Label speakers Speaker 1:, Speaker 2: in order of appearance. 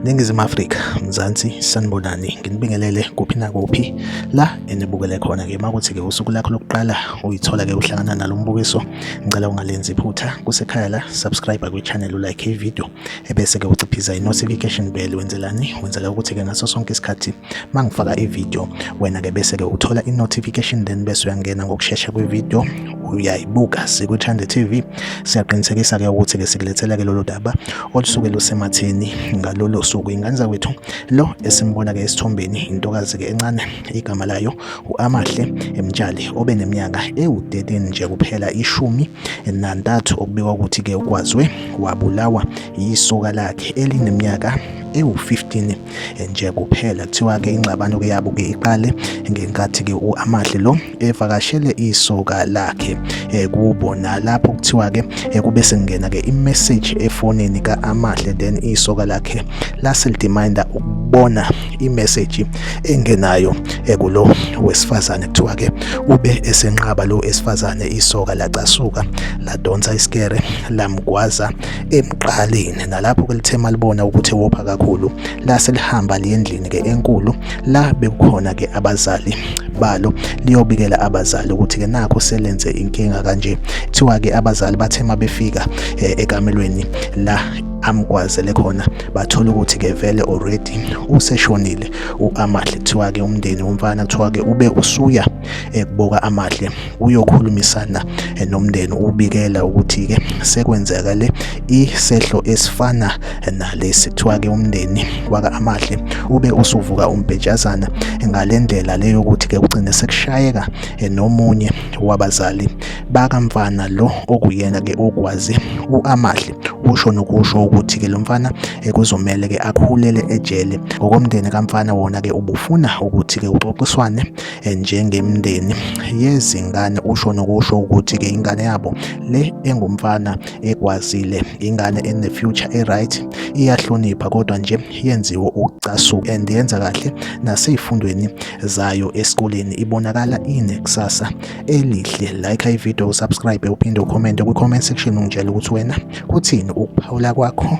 Speaker 1: Ningizimu Afrika, Mzansi, sanibonani. Nginibingelele kuphi nakuphi la enibukele khona ke makuthi ke usuku lakho lokuqala uyithola ke uhlangana nalo mbukiso. Ngicela ungalenzi iphutha kusekhaya la, subscribe kwi channel, like i video, ebese ke uciphiza i notification bell wenzelani wenzela ukuthi ke ngaso sonke isikhathi mangifaka i video wena ke bese ke uthola i notification then bese uyangena ngokushesha kwi video uyayibuka sikuthande TV siyaqinisekisa ke ukuthi ke sikulethela ke lolu daba olusuke lusematheni ngalolo suku ingane zakwethu lo esimbona ke esithombeni intokazi ke encane igama layo uAmahle Emtshali obe neminyaka ewu13 nje kuphela ishumi nantathu okubikwa ukuthi ke ukwazwe wabulawa yisoka lakhe elineminyaka ewu-15 nje kuphela kuthiwa-ke ingxabano ke yabo ke iqale ngenkathi-ke u-amahle lo evakashele isoka lakhe eh, kubo nalapho kuthiwa-ke eh, kube sengena-ke imeseji efonini ka-amahle then isoka lakhe lase lidiminda ukubona imeseji engenayo eh, kulo wesifazane kuthiwa-ke ube esenqaba lo esifazane isoka lacasuka ladonsa isikere lamgwaza emqaleni nalapho ke lithe malibona ukuthi wopha kakhulu lase lihamba liyendlini ke enkulu la bekukhona ke abazali balo liyobikela abazali ukuthi ke nakho selenze inkinga kanje kuthiwa ke abazali bathe mabefika eh, ekamelweni la amgwazele khona bathola ukuthi ke vele already useshonile uAmahle kuthiwa ke umndeni womfana kuthiwa ke ube usuya ekuboka amahle uyokhulumisana eh, nomndeni ubikela ukuthi ke sekwenzakale isehlo esifana eh, nalesi kuthiwa ke umndeni waka amahle ube usuvuka umbhejazana eh, ngalendlela leyo ukuthi ke ugcine sekushayeka nomunye wabazali bakamfana lo okuyena ke okwazi uamahle usho nokusho ukuthi ke lo mfana kuzomele ke akhulele ejele ngokomndeni kamfana wona ke ubufuna ukuthi ke uxoxiswane eh, njengemndeni yezingane usho nokusho ukuthi-ke ingane yabo le engumfana ekwazile ingane ene-future e-right iyahlonipha kodwa nje yenziwe ukucasuka and yenza kahle nasey'fundweni zayo esikoleni ibonakala inekusasa elihle like ividiyo usubscribe uphinde ukhomente kwi-comment section ungitshela ukuthi wena kuthini ukuphawula kwakho